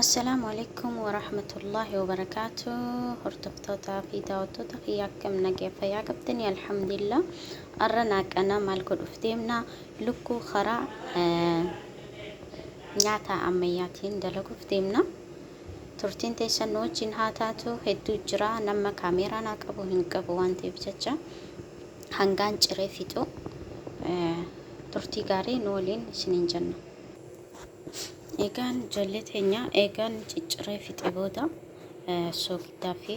Assalaamu Aleykum Warahmatullaahi Wabarakaatuh Hordoftootaa fi daawwattoota kiyya akkam nagaya fayyaa qabdanii alhamdulillah arra naaqana maal godhuuf deemna lukkuu karaa nyaata ammayyaatiin dalaguuf deemna turtiin teessan nu wajjin haa taatu hedduu jira nama kaameeraa naa qabu hin qabu waan ta'eef jecha hangaan ciree fixu turtii gaarii nu waliin isiniin jenna. Egaan ijoollee teenya eegaan cicciree fixe booda soogiddaa fi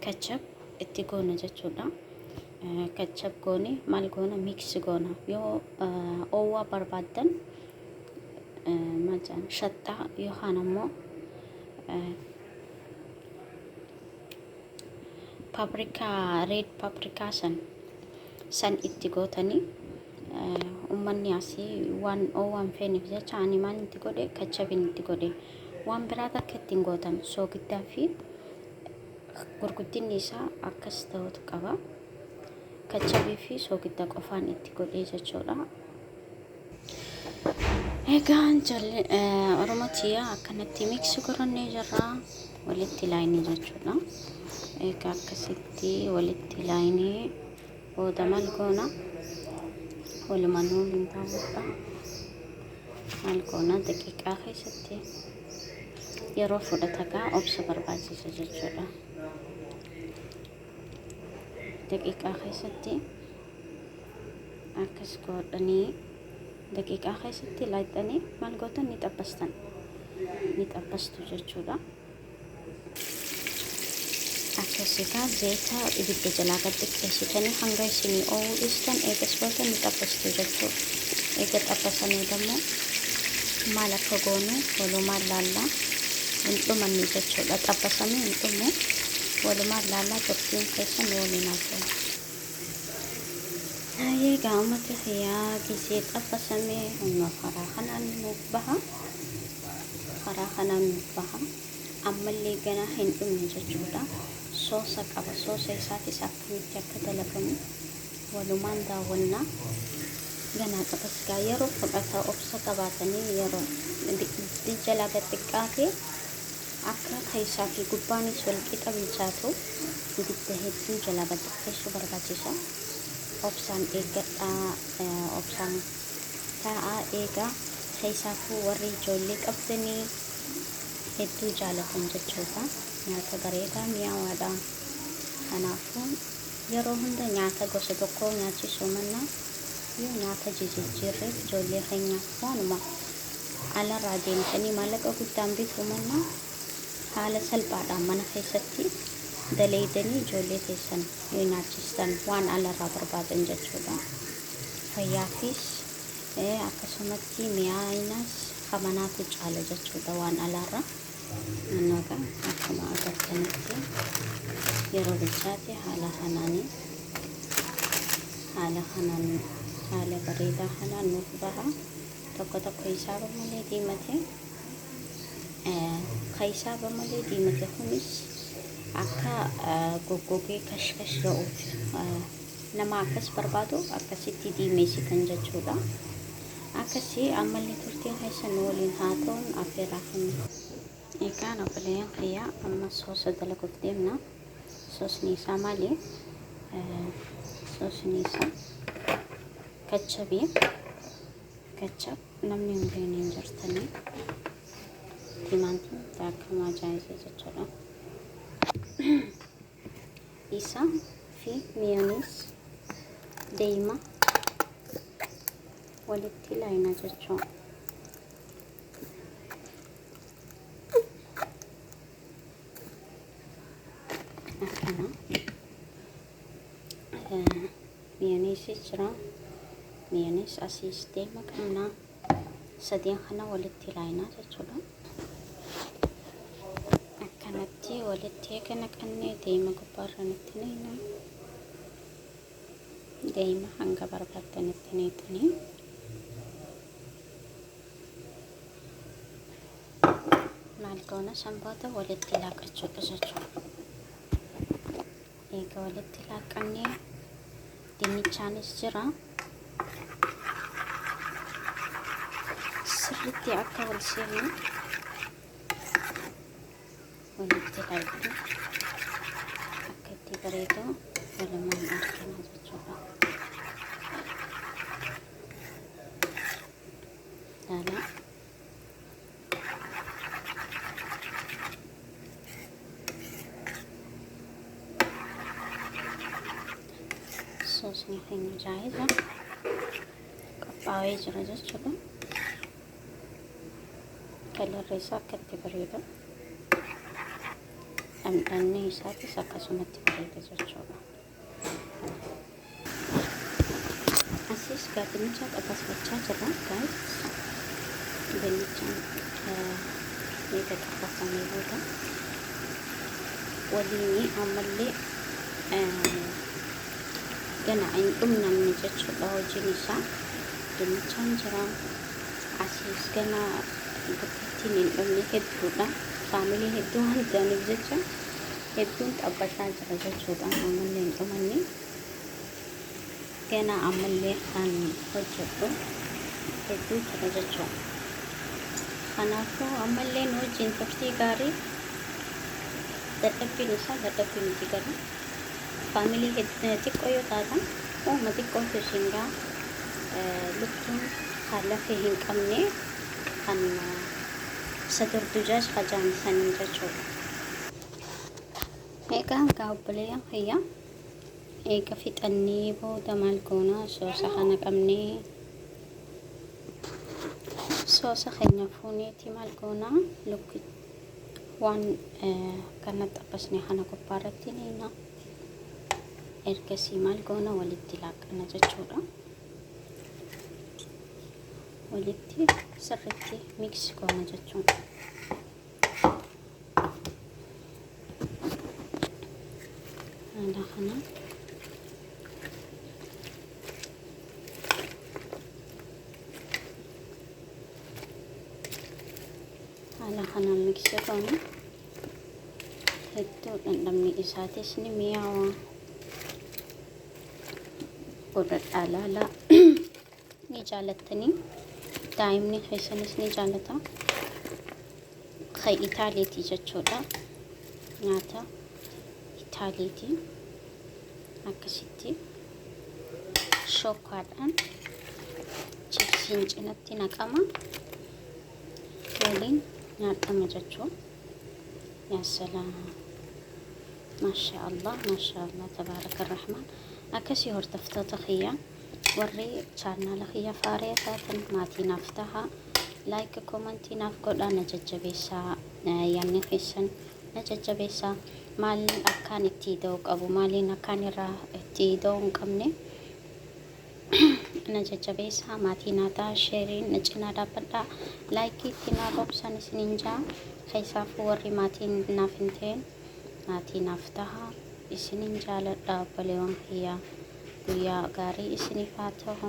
kachab itti goona jechuudha. Kachab goone maal goona miiksi goona yoo oowwaa barbaaddan maal jedhan shaxxaa yookaan ammoo paprikaa red paprikaa san san itti gootanii ummanni asii waan oowwaan feenif jecha ani maan itti godhe kachabin itti godhe waan biraa takka ittiin gootan soogiddaa fi gurguddinni isaa akkas ta'utu qaba kachabii fi soogidda qofaan itti godhee jechuudha Egaa ijoollee eh, Oromoo tiyyaa akkanatti miiksi gorannee jirra. Walitti laayinii jechuudha. Egaa akkasitti walitti laayinii booda maal goona? Walumanuu hin ta'udha. Maal goona? Daqiiqaa keessatti yeroo fudhata gaa obsa barbaachisa jechuudha. Daqiiqaa keessatti akkas godhanii daqiiqaa keessatti laayxanii maal gootan ni xabbastan ni xabbastu jechuudha akkasitaa zayita ibidda jalaa gad xiqqeessitanii hanga isinii oowuu dhiistan eegas booda ni xabbastu jechuudha eega xabbasanii dammoo maal akka goonu walumaan laallaa hin dhumanne jechuudha xabbasamee hin dhumu walumaan laallaa turtiin keessan waliin haasa'u Haayee egaa uummata kiyyaa gisee xabbasame amma karaa kanaan nuuf baha. Karaa kanaan nuuf baha. Ammallee ganaa hin dhumne jechuudha. Soosa qaba. Soosa isaatis akkamitti akka dalagamu walumaan daawwanna. Ganaa qabas gaa yeroo fudhata obsa qabaatanii yeroo jalaa gad xiqqaatee Akka keessaa fi gubbaanis wal qixa bilchaatuuf ibidda hedduu jalaa gad xiqqeessuu barbaachisa. Obsaan eeggadhaa, obsaan taa'aa eegaa. Keessaafuu warri ijoollee qabdanii hedduu jaalatan jechuudha. Nyaata bareedaa mi'aawaadha. Kanaafuu yeroo hunda nyaata gosa tokkoo nyaachisuu mannaa yoo nyaata jijijjiirreef ijoollee keenyaaf waanuma alarraa deemtanii maallaqa guddaan bituu mannaa haala salphaadhaan mana keessatti daleeydanii ijoollee teessan yoo nyaachistan waan alarraa barbaadan jechuudha. Fayyaafis eh, akkasumatti mi'aayinas ka manaatu caala jechuudha waan alaarra. Annaga akkuma agartanitti yeroo bilchaate haala kanaanii haala kanaan haala bareedaa kanaan nuuf baha. tokko tokko isaa bamalee diimate ka isaa bamalee diimate kunis akka goggogee kashkash ga'uuf nama akkas barbaadu akkasitti diimeessitan jechuudha akkasi ammallee turtiin keessan waliin haa ta'uun affeeraa kenna egaan obboleeyyan kiyyaa amma soosa dalaguuf deemna soosni isaa maali soosni isaa Kachabi kachab namni hin beekne hin jirtanii timaantiin akkam ajaa'ibee jechuudha. Isa fi miyooniis deema walitti laayina jechuudha. Akkana. Miyoneesis jira. Miyonees asiis deema qabna. Sadeen kana walitti laayinaa jechuudha. Akkanatti walitti eega naqannee deema gubbaarraan itti neeyna. Deema hanga barbaaddan itti neeyxanii. Maal goona sanboota walitti laaqachuudha jechuudha. Eega walitti laaqqamnee dinnichaanis jira. Sirriitti akka wal seenu walitti laaqqu akka itti bareedu walumaan argina jechuudha. Laalaa. soosni keenya jaayiza qophaa'ee jira jechuudha. Kalarri isaa akka itti bareedu dhandhanni isaatis akkasumatti bareeda jechuudha. Asiis gaa dinnicha qaqqasbachaa jirra gaayis. Dinnicha eega qaqqasannee booda waliin ammallee gana hin dhumnamne jechuudha hojiin isaa. Dinnichaan jira. Asiis gana gurgurtiin hin dhumne hedduudha. Faamilee hedduu waan ta'aniif jecha. hedduun xabbataa jira jechuudha ammallee hin dhumanne ganaa ammallee kan hojjedhu hedduu jira jechuudha kanaafuu ammallee nu wajjin turtii gaarii dadhabbiin isaa dadhabbii miti garuu faamilii xiqqoo yoo taatan uuma xiqqootu isin gaa lukkuun ka lafee hin qabne kan sadurdujaaj ka jaamsaniin jechuudha. Egaa egaa obboleeyyan kiyya eega fixannee booda maal goona soosa kana qabnee soosa keenya fuuneeti maal goona lukki waan kana xabbasne kana gubbaa irratti niina ergasii maal goona walitti laaqqana jechuudha. Walitti sirriitti miiksi goona jechuudha. haala kanaan haala kanaan miksii goona hedduu dhandhamni isaatis ni mi'aawa godhadhaa laalaa ni jaalattanii daa'imni keessanis ni jaalata kan itaaleetii jechuudha nyaata itaaleetii akkasitti shokkaadhaan chipsiin cinatti naqama waliin nyaatama jechuu yaa salaam maashaa allah maashaa allah tabaaraka rahmaan akkasii hordoftoota kiyyaa Warri chaannaala kiyya faaree taatan maatii naaf taha. Like komantii naaf godhaa na jajjabeessaa. Yaanni keessan na jajjabeessaa. Maaliin akkaan itti ida'uu qabu maaliin akkaan irraa itti ida'uu hin qabne na jajjabeessaa maatii naa taha sheeriin na cinaa dhaabbadhaa. Laayikii itti naa roobsan isiniin jaa. Keessaafuu warri maatiin naaf hin ta'in maatii naaf taha isinin jaaladha obbalewan kiyya guyyaa gaarii isinif haa tahu.